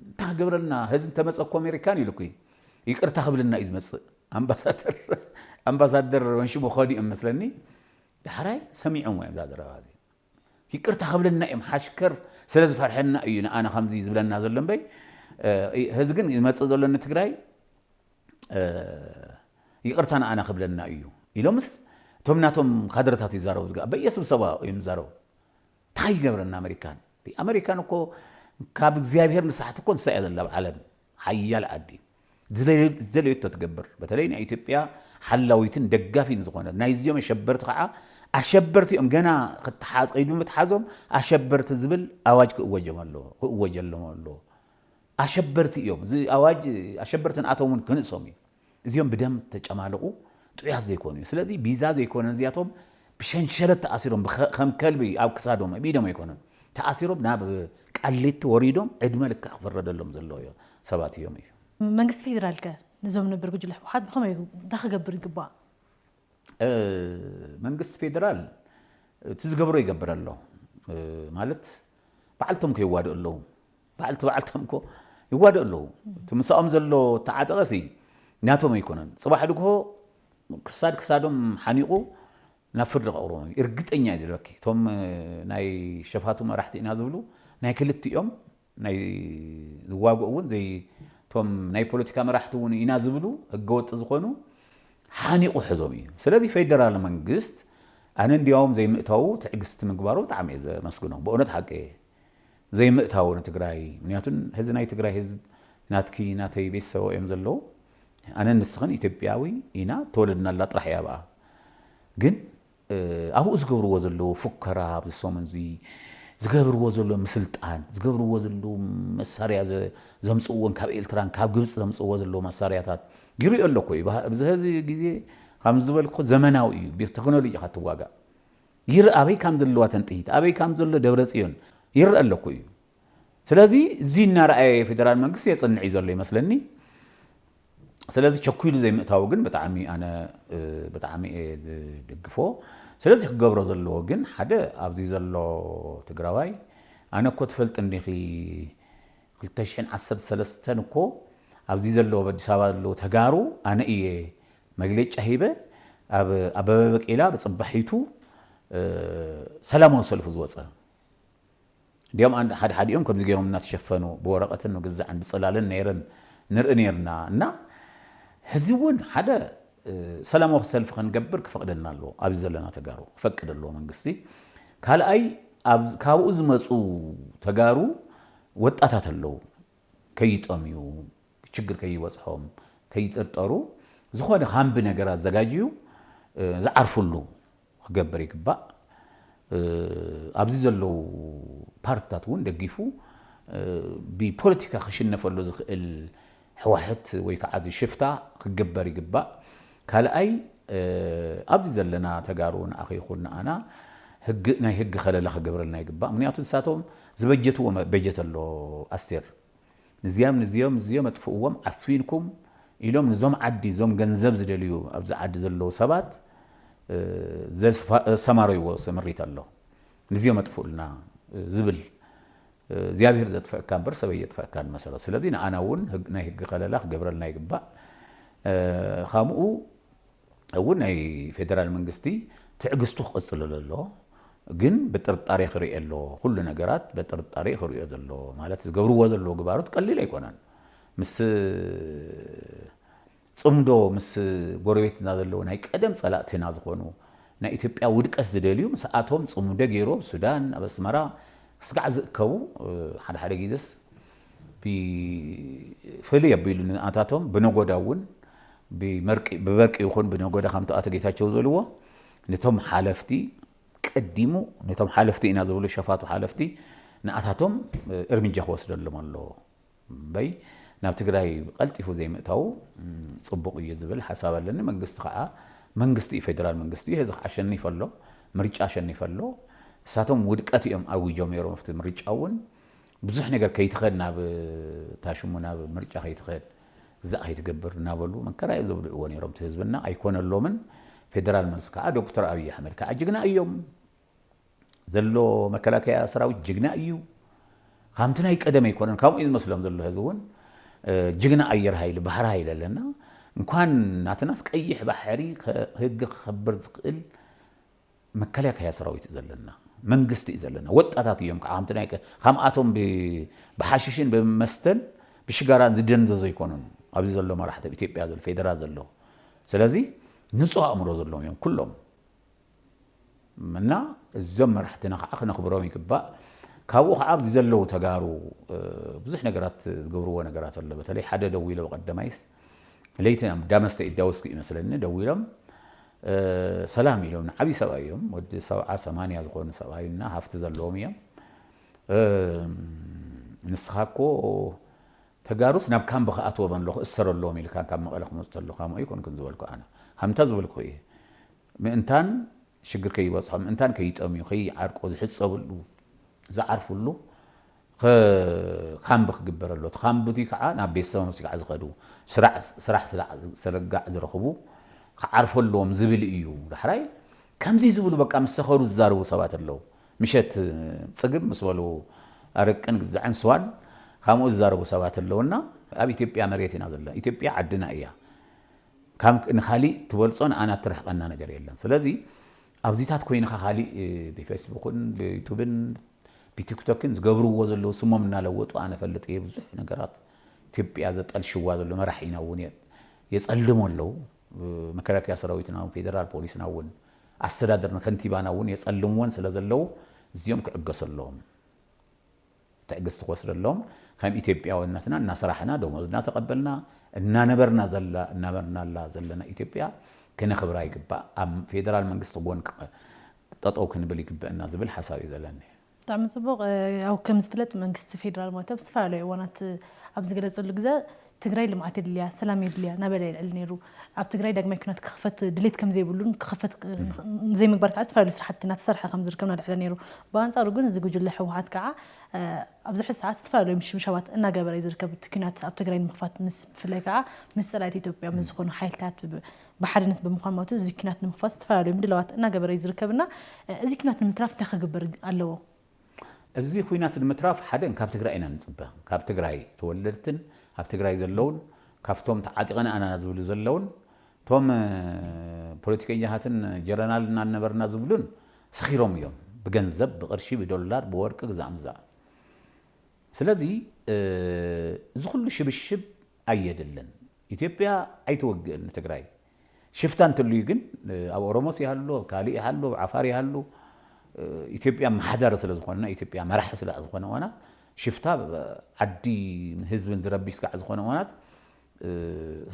እንታይ ክገብረልና ህዚ እንተመፀ እኮ ኣሜሪካን ኢሉ እኮ ይቅርታ ክብልና እዩ ዝመፅእ ኣምባሳደር ኣምባሳደር መንሽሙ ከዱ እዮም መስለኒ ዳሕራይ ሰሚዖም እዮም እዛ ዘረባ እዚ ይቅርታ ክብለና እዮም ሓሽከር ስለ ዝፈርሐና እዩ ንኣና ከምዚ ዝብለና ዘሎ እምበይ ህዚ ግን ዝመፅእ ዘሎ ንትግራይ ይቅርታ ንኣና ክብለና እዩ ኢሎምስ እቶም ናቶም ካድረታት ይዛረቡ ዝግ በየ ስብሰባ እዮም ዝዛረቡ እንታይ ይገብረና ኣመሪካን ኣመሪካን እኮ ካብ እግዚኣብሄር ንሳሕቲ እኮ ንሳ እያ ዘላ ኣብ ዓለም ሓያል ዓዲ ዝደለየቶ ትገብር በተለይ ናይ ኢትዮጵያ ሓላዊትን ደጋፊን ዝኾነት ናይዚኦም ኣሸበርቲ ከዓ ኣሸበርቲ እዮም ገና ክትሓዝ ቀይዱ ምትሓዞም ኣሸበርቲ ዝብል ኣዋጅ ክእወጀም ኣለዎ ክእወጀሎም ኣለዎ ኣሸበርቲ እዮም እዚ ኣዋጅ ኣሸበርቲ ንኣቶም እውን ክንእሶም እዩ እዚኦም ብደም ተጨማልቑ ጥዑያት ዘይኮኑ እዩ ስለዚ ቢዛ ዘይኮነ እዚኣቶም ብሸንሸለት ተኣሲሮም ከም ከልቢ ኣብ ክሳዶም ኣብ ኢዶም ኣይኮነን ተኣሲሮም ናብ ቃሊቲ ወሪዶም ዕድመ ልክዕ ክፍረደሎም ዘለዎ ሰባት እዮም እዩ። መንግስቲ ፌዴራል ከ ንዞም ነበር ጉጅለ ህወሓት ብኸመይ እዩ እንታይ ክገብር ይግባእ? መንግስቲ ፌዴራል እቲ ዝገብሮ ይገብር ኣሎ ማለት በዓልቶም ከይዋድኡ ኣለዉ። ባዕልቲ ባዕልቶም እኮ ይዋደኡ ኣለዉ እቲ ምሳኦም ዘሎ ተዓጠቐ ሲ ናቶም ኣይኮነን ፅባሕ ድግሆ ክሳድ ክሳዶም ሓኒቑ ናብ ፍርዲ ከቕርቦም እዩ እርግጠኛ እዩ ዝብለኪ እቶም ናይ ሸፋቱ መራሕቲ ኢና ዝብሉ ናይ ክልቲኦም ናይ ዝዋግኡ እውን ዘይ እቶም ናይ ፖለቲካ መራሕቲ እውን ኢና ዝብሉ ህገወጥ ዝኾኑ ሓኒቑ ሕዞም እዩ ስለዚ ፌደራል መንግስት ኣነ እንዲያውም ዘይምእታዉ ትዕግስቲ ምግባሩ ብጣዕሚ እየ ዘመስግኖ ብእውነት ሓቂ እየ ዘይምእታዉ ንትግራይ ምክንያቱ ህዚ ናይ ትግራይ ህዝብ ናትኪ ናተይ ቤተሰበ እዮም ዘለዉ ኣነን ንስክን ኢትዮጵያዊ ኢና ተወለድናላ ጥራሕ እያ ኣብኣ ግን ኣብኡ ዝገብርዎ ዘለዉ ፉከራ ኣብዚ ሰሙን እዚ ዝገብርዎ ዘለዉ ምስልጣን ዝገብርዎ ዘለዉ መሳርያ ዘምፅእዎን ካብ ኤልትራን ካብ ግብፂ ዘምፅእዎ ዘለዉ መሳርያታት ይሪኦ ኣለኩ እዩ ብዝሀዚ ግዜ ከም ዝበልኩ ዘመናዊ እዩ ብቴክኖሎጂ ኢካ ትዋጋእ ይርእ ኣበይ ካም ዘለዋ ተን ጥይት ኣበይ ካም ዘሎ ደብረጽዮን ይርእ ኣሎ እኮ እዩ ስለዚ እዚ እናረኣየ ፌደራል መንግስቲ የጽንዕ እዩ ዘሎ ይመስለኒ ስለዚ ቸኲሉ ዘይምእታው ግን ብጣዕሚ ኣነ ብጣዕሚ እየ ዝድግፎ ስለዚ ክገብሮ ዘለዎ ግን ሓደ ኣብዚ ዘሎ ትግራዋይ ኣነ እኮ ትፈልጥ እንዲኺ 213 እኮ ኣብዚ ዘለዎ ኣብ ኣዲስ ኣበባ ዘለዎ ተጋሩ ኣነ እየ መግለጫ ሂበ ኣብ ኣበበ በቂላ ብፅባሒቱ ሰላማዊ ሰልፉ ዝወፀ እንዲያውም ኣን- ሓደ ሓዲኦም ከምዚ ገይሮም እናተሸፈኑ ብወረቐትን ምግዛዕን ብፅላልን ነይረን ንርኢ ነይርና እና ሕዚ እውን ሓደ እ፣ ሰላማዊ ሰልፊ ከንገብር ክፈቕደና ኣለዎ ኣብዚ ዘለና ተጋሩ ክፈቅድ ኣለዎ መንግስቲ ካልኣይ ኣብ- ካብኡ ዝመፁ ተጋሩ ወጣታት ኣለዉ ከይጠምዩ ሽግር ከይበፅሖም ከይጥርጠሩ ዝኾነ ካምቢ ነገር ኣዘጋጅዩ ዝዓርፍሉ ክገብር ይግባእ። ኣብዚ ዘለዉ ፓርትታት እውን ደጊፉ ብፖለቲካ ክሽነፈሉ ዝኽእል ሕዋሕት ወይ ከዓ እዚ ሽፍታ ክግበር ይግባእ። ካልኣይ ኣብዚ ዘለና ተጋሩ ንኣኺ ይኹን ንኣና ህግ ናይ ህግ ከለላ ክገብረልና ይግባእ። ምክንያቱ ንሳቶም ዝበጀትዎ በጀት ኣሎ ኣስቴር። ንዚኣም ንዚኦም ንዚኦም ኣጥፍእዎም ዓፊንኩም ኢሎም ንዞም ዓዲ ዞም ገንዘብ ዝደልዩ ኣብዚ ዓዲ ዘለዉ ሰባት ዘሰማረይዎ ስምሪት ኣሎ ንዚኦም ኣጥፍኡልና ዝብል እግዚኣብሄር ዘጥፈእካ እምበር ሰብ ኣየጥፈእካን ብመሰረቱ ስለዚ ንኣና እውን ናይ ህጊ ከለላ ክገብረልና ይግባእ ካምኡ እውን ናይ ፌደራል መንግስቲ ትዕግስቱ ክቕፅለሉ ኣለዎ ግን ብጥርጣሬ ክርኤ ኣለዎ ኩሉ ነገራት በጥርጣሬ ክርእዮ ዘለዎ ማለት ዝገብርዎ ዘለዎ ግባሮት ቀሊል ኣይኮነን ምስ ፅምዶ ምስ ጎረቤትና ዘለዎ ናይ ቀደም ፀላእትና ዝኾኑ ናይ ኢትዮጵያ ውድቀት ዝደልዩ ምስኣቶም ፅምዶ ገይሩ ኣብ ሱዳን ኣብ ኣስመራ ስጋዕ ዝእከቡ ሓደ ሓደ ጊዜስ ፍልይ ኣቢሉ ንኣታቶም ብነጎዳ እውን ብበርቂ ይኹን ብነጎዳ ከምቲ ኣቶ ጌታቸው ዝበልዎ ንቶም ሓለፍቲ ቀዲሙ ነቶም ሓለፍቲ ኢና ዝብሉ ሸፋቱ ሓለፍቲ ንኣታቶም እርምጃ ክወስደሎም ኣለዎ እምበይ ናብ ትግራይ ቀልጢፉ ዘይምእታዉ ፅቡቕ እዩ ዝብል ሓሳብ ኣለኒ መንግስቲ ከዓ መንግስቲ እዩ ፌደራል መንግስቲ እዩ እዚ ከዓ ኣሸኒፈ ኣሎ ምርጫ ኣሸኒፈ ኣሎ እሳቶም ውድቀት እዮም ኣዊጆም ነይሮም ኣብቲ ምርጫ እውን ብዙሕ ነገር ከይትኸድ ናብ እታ ሽሙ ናብ ምርጫ ከይትኸድ እዛ ከይትገብር እናበሉ መከራ እዮም ዘብልዕዎ ነይሮም እቲ ህዝብና ኣይኮነሎምን ፌደራል መልሲ ከዓ ዶክተር ኣብይ ኣሕመድ ከዓ ጅግና እዮም ዘሎ መከላከያ ሰራዊት ጅግና እዩ ከምቲ ናይ ቀደም ኣይኮነን ከምኡ እዩ ዝመስሎም ዘሎ ህዚ እውን ጅግና ኣየር ሃይሊ ባህር ሃይሊ ኣለና እንኳን ናትናስ ቀይሕ ባሕሪ ህግ ክኸብር ዝኽእል መከላከያ ሰራዊት እዩ ዘለና መንግስቲ እዩ ዘለና ወጣታት እዮም ከዓ ከምቲ ናይ ከምኣቶም ብሓሽሽን ብመስተን ብሽጋራን ዝደንዘዙ ኣይኮኑን ኣብዚ ዘሎ መራሕቲ ኣብ ኢትዮጵያ ዘሎ ፌደራል ዘሎ ስለዚ ንፁህ ኣእምሮ ዘለዎም እዮም ኩሎም እና እዞም መራሕትና ከዓ ክነኽብሮም ይግባእ ካብኡ ከዓ ኣብዚ ዘለዉ ተጋሩ ብዙሕ ነገራት ዝገብርዎ ነገራት ኣሎ በተለይ ሓደ ደዊሎ በቀደማይስ ለይቲ ዳመስተ ኢዳወስኪ እዩ መስለኒ ደዊሎም ሰላም ኢሎም ንዓብይ ሰብኣይ እዮም ወዲ ሰብዓ ሰማንያ ዝኾኑ ሰብኣይ እና ሃፍቲ ዘለዎም እዮም ንስኻ እኮ ተጋሩስ ናብ ካምቢ ክኣትዎም ኣለኹ እሰረሎም ኢልካ ካብ መቐለ ክመፁ ተለኹ ከምኡ ኣይኮንኩን ዝበልኩ ኣነ ከምታ ዝበልኩ እየ ምእንታን ሽግር ከይበፅሖም ምእንታን ከይጠምዩ ከይዓርቁ ዝሕፀብሉ ዝዓርፍሉ ከ ካምቢ ክግበር ኣሎ። እቲ ካምቢ ከኣ ናብ ቤተሰቦም ምስ ጋዕ ዝኸዱ፣ ስራሕ ስለጋዕ ዝረኽቡ ክዓርፉ ኣለዎም ዝብል እዩ። ዳሕራይ ከምዚ ዝብሉ በቃ ምስ ሰኸሩ ዝዛረቡ ሰባት ኣለዉ። ምሸት ጽግብ ምስ በሉ ኣረቅን ግዛዕን ስዋን ካምኡ ዝዛረቡ ሰባት ኣለዉ እና ኣብ ኢትዮጵያ መሬት ኢና ዘለና። ኢትዮጵያ ዓድና እያ። ካብ ንካሊእ ትበልጾ ንኣና እትርሕቀና ነገር የለን። ስለዚ ኣብዚታት ኮይንኻ ካሊእ ብፌስቡክን ብዩቱብን ብቲክቶክን ዝገብርዎ ዘለዉ ስሞም እናለወጡ ኣነ እፈልጥ እየ ብዙሕ ነገራት ኢትዮጵያ ዘጠልሽዋ ዘሎ መራሒና እውን የፀልሙ ኣለዉ መከላከያ ሰራዊትና እውን ፌደራል ፖሊስና እውን ኣስተዳደርና ከንቲባና እውን የፀልምወን ስለዘለዉ እዚኦም ክዕገሱ ኣለዎም። ትዕግስቲ ክወስደሎም ከም ኢትዮጵያውነትና እናሰራሕና ደሞዝ እናተቐበልና እናነበርና ዘላ እናበርናላ ዘለና ኢትዮጵያ ክነኽብራ ይግባእ። ኣብ ፌደራል መንግስቲ ጎን ጠጠው ክንብል ይግበእና ዝብል ሓሳብ እዩ ዘለኒ። ብጣዕሚ ጽቡቕ ያው ከም ዝፍለጥ መንግስቲ ፌደራል ማለት ኣብ ዝተፈላለዩ እዋናት ኣብ ዝገለጸሉ ግዘ ትግራይ ልምዓት የድልያ ሰላም የድልያ ናበለ የልዕል ነይሩ። ኣብ ትግራይ ዳግማይ ኲናት ክኽፈት ድሌት ከምዘይብሉን ክኽፈት ንዘይምግባር ከዓ ዝተፈላለዩ ስራሕቲ እናተሰርሐ ከምዝርከብ እናልዐለ ነይሩ። ብኣንፃሩ ግን እዚ ጉጅለ ህወሓት ከዓ ኣብዚ ሕዚ ሰዓት ዝተፈላለዩ ምሽብሻባት እናገበረ እዩ ዝርከብ። እቲ ኲናት ኣብ ትግራይ ንምኽፋት ምስ ብፍላይ ከዓ ምስ ፀላእቲ ኢትዮጵያ ምስ ዝኾኑ ሓይልታት ብሓድነት ብምዃን ማለት እዩ እዚ ኲናት ንምኽፋት ዝተፈላለዩ ምድላዋት እናገበረ እዩ ዝርከብ እና እዚ ኲናት ንምትራፍ እንታይ ክግበር ኣለዎ? እዚ ኹናት ንምትራፍ ሓደ ካብ ትግራይ ኢና ንፅበ ካብ ትግራይ ተወለድትን ኣብ ትግራይ ዘለውን ካብቶም ተዓጢቐና ኣና ዝብሉ ዘለውን እቶም ፖለቲከኛታትን ጀረናል እና ነበርና ዝብሉን ሰኺሮም እዮም ብገንዘብ ብቕርሺ ብዶላር ብወርቂ ግዛእ ምዛእ ስለዚ እዚ ኹሉ ሽብሽብ ኣየድልን ኢትዮጵያ ኣይትወግእን ንትግራይ ሽፍታ እንተልዩ ግን ኣብ ኦሮሞስ ይሃሉ ኣብ ካልእ ይሃሉ ኣብ ዓፋር ይሃሉ ኢትዮጵያ ኣመሓዳሪ ስለ ዝኾንና ኢትዮጵያ መራሒ ስጋዕ ዝኾነ እዋናት ሽፍታ ዓዲን ህዝብን ዝረብሽ ስጋዕ ዝኾነ እዋናት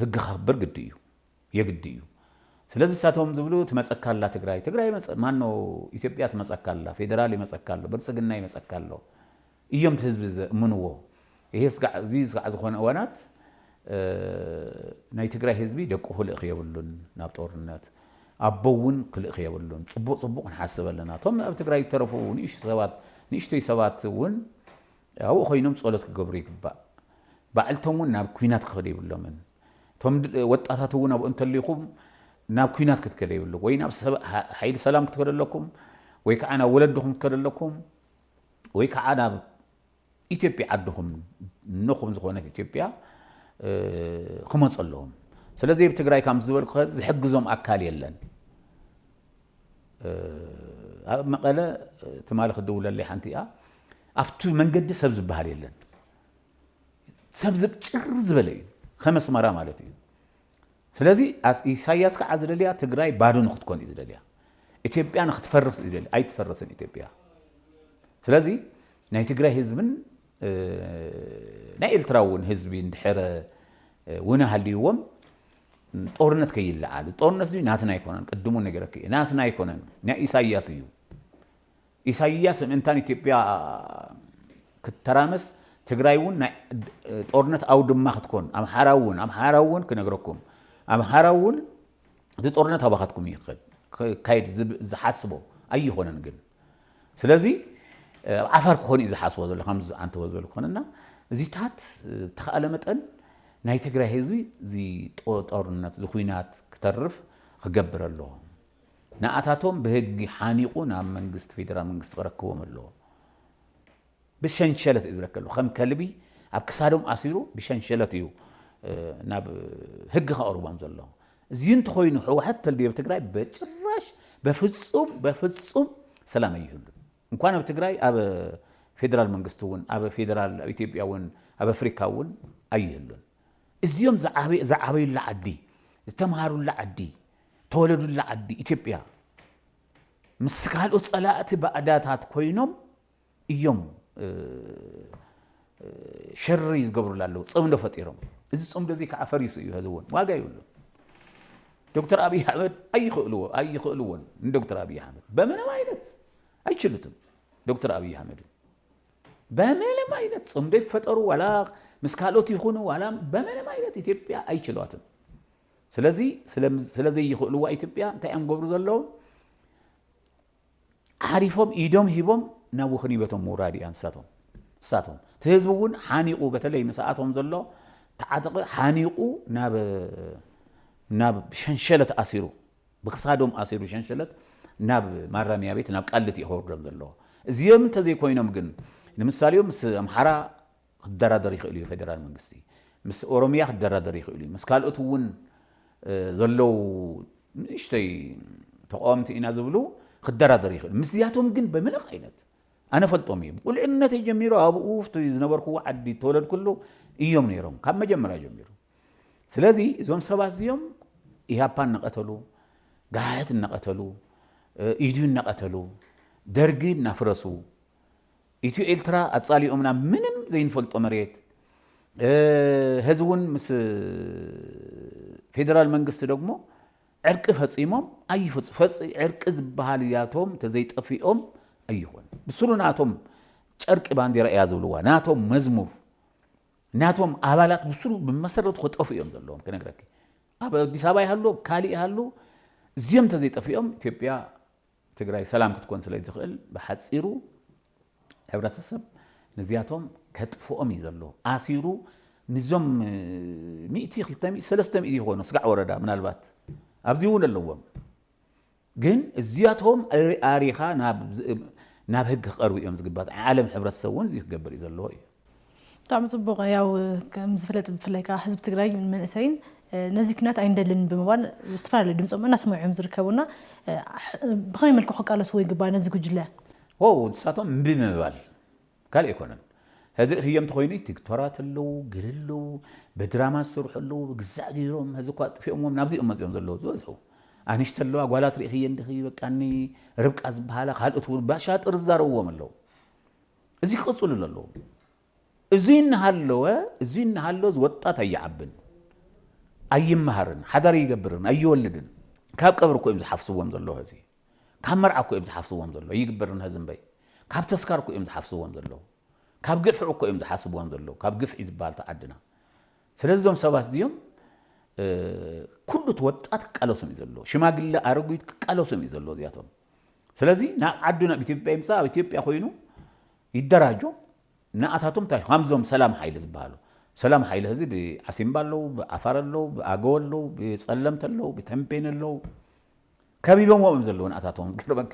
ህጊ ከኽብር ግዲ እዩ የግዲ እዩ ስለዚ እሳቶም ዝብሉ ትመፀካ ኣላ ትግራይ ትግራይ ማኖ ኢትዮጵያ ትመፀካ ኣላ ፌዴራል ይመፀካ ኣሎ ብልፅግና ይመፀካ ኣሎ እዮም እቲ ህዝቢ ዘእምንዎ ይሄ ስጋዕ እዚ ስጋዕ ዝኾነ እዋናት ናይ ትግራይ ህዝቢ ደቁ ክልእኽ የብሉን ናብ ጦርነት ኣቦ እውን ክልእኽ የብሉን ፅቡቕ ፅቡቕ ክንሓስብ ኣለና እቶም ኣብ ትግራይ ዝተረፉ ንእሽቶ ሰባት ንእሽቶይ ሰባት እውን ኣብኡ ኮይኖም ፀሎት ክገብሩ ይግባእ ባዕልቶም እውን ናብ ኩናት ክኸዱ የብሎምን እቶም ወጣታት እውን ኣብኡ እንተሊኹም ናብ ኩናት ክትከደ የብሉ ወይ ናብ ሓይሊ ሰላም ክትከደ ኣለኩም ወይ ከዓ ናብ ወለድኹም ክትከደ ኣለኩም ወይ ከዓ ናብ ኢትዮጵያ ዓድኹም ንኹም ዝኾነት ኢትዮጵያ ክመፁ ኣለዎም ስለዚ ኣብ ትግራይ ካም ዝበልኩ ከዚ ዝሕግዞም ኣካል የለን ኣብ መቐለ ትማሊ ክድውለለይ ሓንቲ እያ ኣብቲ መንገዲ ሰብ ዝበሃል የለን ሰብ ጭር ዝበለ እዩ ከመስመራ ማለት እዩ ስለዚ ኢሳያስ ካዓ ዝደልያ ትግራይ ባዶ ንክትኮን እዩ ዝደልያ ኢትዮጵያ ንክትፈርስ እዩ ዝደልያ ኣይትፈርስን ኢትዮጵያ ስለዚ ናይ ትግራይ ህዝብን ናይ ኤርትራ እውን ህዝቢ እንድሕረ ውነ ሃልይዎም ጦርነት ከይለዓል ጦርነት እዚ ናትና ኣይኮነን ቅድሙ ነገረክ እዩ ናትና ኣይኮነን ናይ ኢሳያስ እዩ ኢሳይያስ ምእንታን ኢትዮጵያ ክትተራመስ ትግራይ ውን ናይ ጦርነት ኣውድማ ክትኮን ኣምሓራ ውን ኣምሓራ ውን ክነግረኩም ኣምሓራ ውን እቲ ጦርነት ኣባኻትኩም እዩ ክካየድ ዝሓስቦ ኣይኾነን ግን ስለዚ ኣብ ዓፋር ክኾን እዩ ዝሓስቦ ዘሎ ከም ዓንተቦ ዝበል ክኾነና እዚታት ተኸኣለ መጠን ናይ ትግራይ ህዝቢ እዚ ጦርነት እዚ ኩናት ክተርፍ ክገብር ኣለዎ ንኣታቶም ብህጊ ሓኒቑ ናብ መንግስቲ ፌደራል መንግስቲ ክረክቦም ኣለዎ። ብሸንሸለት እዩ ዝረከሉ ከም ከልቢ ኣብ ክሳዶም ኣሲሩ ብሸንሸለት እዩ ናብ ህጊ ከቕርቦም ዘሎ። እዚ እንተኾይኑ ሕወሓት ተልብዮ ኣብ ትግራይ በጭራሽ በፍፁም በፍፁም ሰላም ኣይህሉን። እንኳን ኣብ ትግራይ ኣብ ፌደራል መንግስቲ እውን ኣብ ፌደራል ኣብ ኢትዮጵያ እውን ኣብ ኣፍሪካ እውን ኣይህሉን። እዚኦም ዝዓበዩላ ዓዲ ዝተምሃሩላ ዓዲ ተወለዱላ ዓዲ ኢትዮጵያ ምስ ካልኦት ፀላእቲ ባእዳታት ኮይኖም እዮም ሸሪ ዝገብሩላ ኣለዉ ፅምዶ ፈጢሮም እዚ ፅምዶ እዚ ከዓ ፈሪሱ እዩ ሀዚ እውን ዋጋ ይብሉ ዶክተር ኣብይ ኣሕመድ ኣይኽእልዎ ኣይኽእልዎን ንዶክተር ኣብይ ኣሕመድ በምንም ዓይነት ኣይችሉትም ዶክተር ኣብይ ኣሕመድ በምንም ዓይነት ፅምዶ ይፈጠሩ ዋላ ምስ ካልኦት ይኹኑ ዋላ በምንም ዓይነት ኢትዮጵያ ኣይችሏትም ስለዚ ስለዘይኽእልዋ ኢትዮጵያ እንታይ እዮም ገብሩ ዘለዉ ዓሪፎም ኢዶም ሂቦም ናብ ውኽኒበቶም ምውራድ እያ ንሳቶም ንሳቶም እቲ ህዝቢ እውን ሓኒቑ በተለይ ንሰኣቶም ዘሎ ተዓጥቂ ሓኒቑ ናብ ናብ ሸንሸለት ኣሲሩ ብክሳዶም ኣሲሩ ሸንሸለት ናብ ማረሚያ ቤት ናብ ቃልት እዩ ከወርዶም ዘለዎ እዚኦም እንተዘይኮይኖም ግን ንምሳሌ ምስ ኣምሓራ ክደራደር ይኽእል እዩ ፌደራል መንግስቲ ምስ ኦሮሚያ ክደራደር ይኽእል እዩ ምስ ካልኦት እውን ዘለው ንእሽተይ ተቃወምቲ ኢና ዝብሉ ክደራደር ይኽእል ምስዚያቶም ግን ብምንም ዓይነት ኣነ ፈልጦም እየ ብቁልዕነተይ ጀሚሩ ኣብኡ ዝነበርኩዎ ዓዲ ተወለድኩሉ እዮም ነይሮም ካብ መጀመርያ ጀሚሩ ስለዚ እዞም ሰባት እዚኦም ኢህኣፓ እናቐተሉ ጋህት እናቐተሉ ኢድዩ እናቐተሉ ደርጊ እናፍረሱ ኢትዮ ኤልትራ ኣጻሊኦምና ምንም ዘይንፈልጦ መሬት ሀዚ ውን ምስ ፌደራል መንግስቲ ደግሞ ዕርቂ ፈጺሞም ኣይፈጽ ፈጽ ዕርቂ ዝበሃል እዚኣቶም ተዘይጠፊኦም ኣይኾን ብስሩ ናቶም ጨርቂ ባንዴራ እያ ዝብልዋ ናቶም መዝሙር ናቶም ኣባላት ብስሩ ብመሰረቱ ከጠፉ እዮም ዘለዎም ክነግረኪ ኣብ ኣዲስ ኣበባ ይሃሉ ካልእ ይሃሉ እዚኦም ተዘይጠፊኦም ኢትዮጵያ ትግራይ ሰላም ክትኮን ስለይትኽእል ብሓፂሩ ሕብረተሰብ ነዚኣቶም ከጥፍኦም እዩ ዘለዎ ኣሲሩ ንዞም ሚእቲ ክልተ ሚእቲ ሰለስተ ሚእቲ ይኾኑ ስጋዕ ወረዳ ምናልባት ኣብዚ እውን ኣለዎም ግን እዚኣቶም ኣሪኻ ናብ ህግ ክቐርቡ እዮም ዝግባት ዓለም ሕብረተሰብ እውን እዚ ክገብር እዩ ዘለዎ እዩ ብጣዕሚ ፅቡቕ ያው ከምዝፍለጥ ብፍላይ ከዓ ህዝቢ ትግራይ መንእሰይን ነዚ ኩናት ኣይንደልን ብምባል ዝተፈላለዩ ድምፆም እናስምዑ እዮም ዝርከቡና ብኸመይ መልክዑ ክቃለስዎ ይግባእ ነዚ ጉጅለ ዎው ንሳቶም እምቢ ምባል ካልእ ኣይኮነን ሕዚ ርእፍዮ እንተኾይኑ ቲክቶራት ኣለዉ ገለ ኣለዉ ብድራማ ዝሰርሑ ኣለዉ ብግዛዕ ገይሮም ሕዚ እኳ ኣጥፊኦምዎም ናብዚ እዮም መፂኦም ዘለዉ ዝበዝሑ ኣንሽቲ ኣለዋ ጓላት ርእፍየን ድኺ በቃኒ ርብቃ ዝበሃላ ካልኦት እውን ባሻጥር ዝዛረብዎም ኣለዉ እዚ ክቕፅሉሉ ኣለዎ። እዙይ እናሃለወ እዙይ እናሃለወ እዚ ወጣት ኣይዓብን፣ ኣይመሃርን፣ ሓዳር ኣይገብርን፣ ኣይወልድን። ካብ ቀብሪ እኮ እዮም ዝሓፍስዎም ዘሎ ሀዚ ካብ መርዓ እኮ እዮም ዝሓፍስዎም ዘሎ ይግበርን ሀዚ እምበይ ካብ ተስካር እኮ እዮም ዝሓፍስዎም ዘለዉ ካብ ግፍዕ እኮ እዮም ዝሓስብዎም ዘለዉ ካብ ግፍዒ ዝበሃል ተዓድና ስለዚ እዞም ሰባት እዚኦም ኩሉ እቲ ወጣት ክቃለሶም እዩ ዘለዎ፣ ሽማግለ ኣረጉት ክቃለሶም እዩ ዘለዎ እዚኣቶም። ስለዚ ናብ ዓዱ ናብ ኢትዮጵያ ይምፃእ፣ ኣብ ኢትዮጵያ ኮይኑ ይደራጆ ንኣታቶም ታይ ከምዞም ሰላም ሓይለ ዝበሃሉ ሰላም ሓይለ ህዚ ብዓሲምባ ኣለዉ፣ ብዓፋር ኣለዉ፣ ብኣገው ኣለዉ፣ ብፀለምቲ ኣለዉ፣ ብተምቤን ኣለዉ ከቢቦምዎ እዮም ዘለዉ ንኣታቶም ዝገርመኪ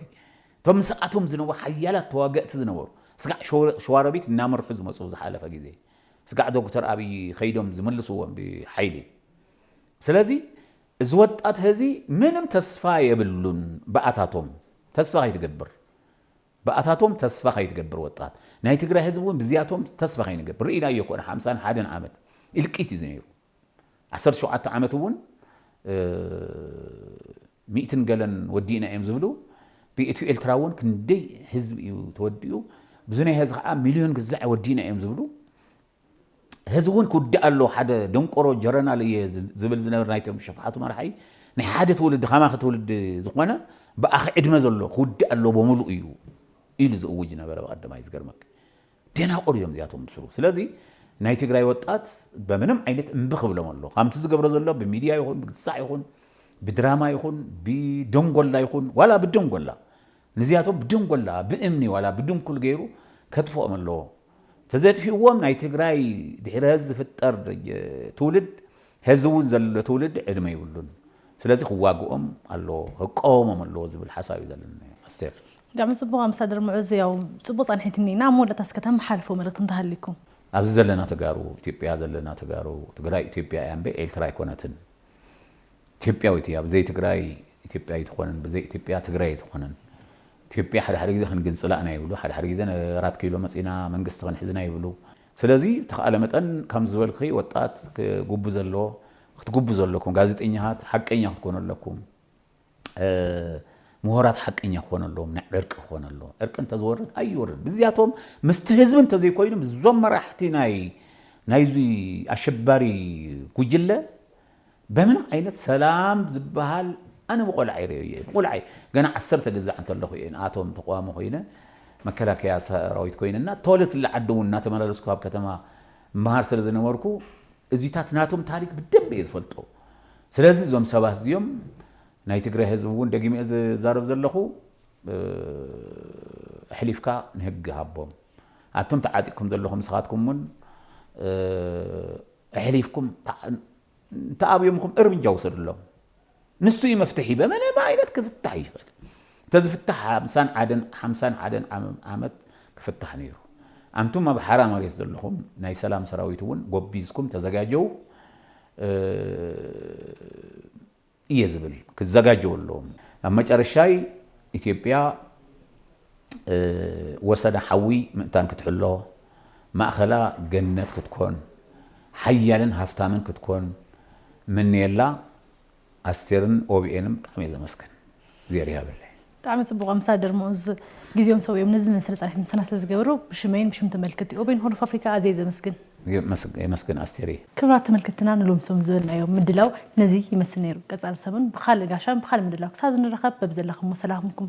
እቶም ምስኣቶም ዝነበሩ ሓያላት ተዋገእቲ ዝነበሩ ስጋዕ ሸዋሮቢት እናመርሑ ዝመፁ ዝሓለፈ ግዜ ስጋዕ ዶክተር ኣብይ ከይዶም ዝምልስዎም ብሓይሊ ስለዚ እዚ ወጣት ህዚ ምንም ተስፋ የብሉን ብኣታቶም ተስፋ ከይትገብር ብኣታቶም ተስፋ ከይትገብር ወጣት ናይ ትግራይ ህዝቢ እውን ብዚያቶም ተስፋ ከይንገብር ርኢናዮ ኮነ ሓምሳን ሓደን ዓመት ኢልቂት እዩ ነይሩ ዓሰርተ ሸውዓተ ዓመት እውን ሚእትን ገለን ወዲእና እዮም ዝብሉ ብኢትዮ ኤልትራ እውን ክንደይ ህዝቢ እዩ ተወዲኡ ብዙ ናይ ህዚ ከዓ ሚልዮን ግዛዕ ወዲእና እዮም ዝብሉ ህዚ እውን ክውዳእ ኣሎ ሓደ ደንቆሮ ጀረናል እየ ዝብል ዝነበር ናይቶም ሸፋሓቱ መራሓይ ናይ ሓደ ትውልዲ ከማኺ ትውልዲ ዝኾነ ብኣኺ ዕድመ ዘሎ ክውዳእ ኣሎ ብምሉእ እዩ ኢሉ ዝእውጅ ነበረ ብቀደማይ ዝገርመክ ደናቁር እዮም እዚኣቶም ብስሩ ስለዚ ናይ ትግራይ ወጣት በምንም ዓይነት እምቢ ክብሎም ኣሎ ካምቲ ዝገብሮ ዘሎ ብሚድያ ይኹን ብግሳዕ ይኹን ብድራማ ይኹን ብደንጎላ ይኹን ዋላ ብደንጎላ ንዚኣቶም ብደንጎላ ብእምኒ ዋላ ብድንኩል ገይሩ ከጥፍኦም ኣለዎ ተዘጥፊእዎም ናይ ትግራይ ድሕሪ ሀዚ ዝፍጠር ትውልድ ሀዚ እውን ዘሎ ትውልድ ዕድመ ይብሉን ስለዚ ክዋግኦም ኣለዎ ክቃወሞም ኣለዎ ዝብል ሓሳብ እዩ ዘለና ኣስቴር ብጣዕሚ ጽቡቕ ኣምባሳደር ሙዑዝ ያው ጽቡቕ ጻንሒት እኒኤ እና ኣብ መወዳእታ እስከ ተመሓልፍዎ መልእኽቲ እንተሃልይኩም። ኣብዚ ዘለና ተጋሩ ኢትዮጵያ ዘለና ተጋሩ ትግራይ ኢትዮጵያ እያ እምበይ ኤልትራ ኣይኮነትን ኢትዮጵያዊት እያ ብዘይ ትግራይ ኢትዮጵያ ኣይትኾንን ብዘይ ኢትዮጵያ ትግራይ ኣይትኾንን ኢትዮጵያ ሓደ ሓደ ግዜ ክንግንፅላ ኢና ይብሉ ሓደ ሓደ ግዜ ኣራት ኪሎ መፂና መንግስቲ ክንሕዝ ኢና ይብሉ ስለዚ ብተኻእለ መጠን ከም ዝበልክኺ ወጣት ክጉቡ ዘለዎ ክትጉቡ ዘለኩም ጋዜጠኛታት ሓቀኛ ክትኮኑ ኣለኩም ምሁራት ሓቀኛ ክኾኑ ኣለዎም፣ ናይ ዕርቂ ክኾኑ ኣለዎም። ዕርቂ እንተዝወርድ ኣይወርድ። ብዚያቶም ምስቲ ህዝቢ እንተዘይኮይኑ ምስዞም መራሕቲ ናይ ናይዚ ኣሸባሪ ጉጅለ በምንም ዓይነት ሰላም ዝበሃል ኣነ ብቆልዓይ ርእየዮ እየ። ብቁልዓይ ገና ዓሰርተ ግዛዕ እንተለኹ እየ ንኣቶም ተቋዋሚ ኮይነ መከላከያ ሰራዊት ኮይነ እና ተወለድትላ ዓዲ እውን እናተመላለስኩ ኣብ ከተማ እመሃር ስለዝነበርኩ እዚታት ናቶም ታሪክ ብደንቢ እየ ዝፈልጦ ስለዚ እዞም ሰባት እዚኦም ናይ ትግራይ ህዝቢ እውን ደጊመ እየ ዝዛረብ ዘለኹ ኣሕሊፍካ ንህጊ ሃቦም ኣቶም ተዓጢቅኩም ዘለኹም ንስኻትኩም እውን ኣሕሊፍኩም እንተኣብዮምኹም እርምጃ ውሰድሎም ንሱ እዩ መፍትሒ በመነ ዓይነት ክፍታሕ ይኽእል ተዝፍታሕ ሓምሳን ዓደን ሓምሳን ዓደን ዓመት ክፍታሕ ነይሩ ኣንቱም ኣብ ሓራ መሬት ዘለኹም ናይ ሰላም ሰራዊት እውን ጎቢዝኩም ተዘጋጀው እየ ዝብል ክዘጋጀው ኣለዎም ኣብ መጨረሻይ ኢትዮጵያ ወሰዳ ሓዊ ምእንታን ክትሕሎ፣ ማእከላ ገነት ክትኮን፣ ሓያልን ሃፍታምን ክትኮን ምንየላ ኣስቴርን ኦቢኤንም ብጣዕሚ እየ ዘመስግን እግዜር ይሃበለይ። ብጣዕሚ ጽቡቕ ኣምባሳደር ሙኡዝ ግዜኦም ሰዊኦም ነዚ ዝመስል ጻኒሕት ምሳና ስለ ዝገበሩ ብሽመይን ብሽም ተመልክቲ ኦቤን ሆርን ኦፍ ኣፍሪካ ኣዝየ ዘምስግን። የመስግን ኣስቴርየ። ክብራት ተመልከትትና ንሎሚ ሰሙን ዝበልናዮ ምድላው ነዚ ይመስል ነይሩ። ቀጻሊ ሰሙን ብኻልእ ጋሻን ብኻልእ ምድላው ክሳብ እንራኸብ በብዘለኽሞ ሰላምኩም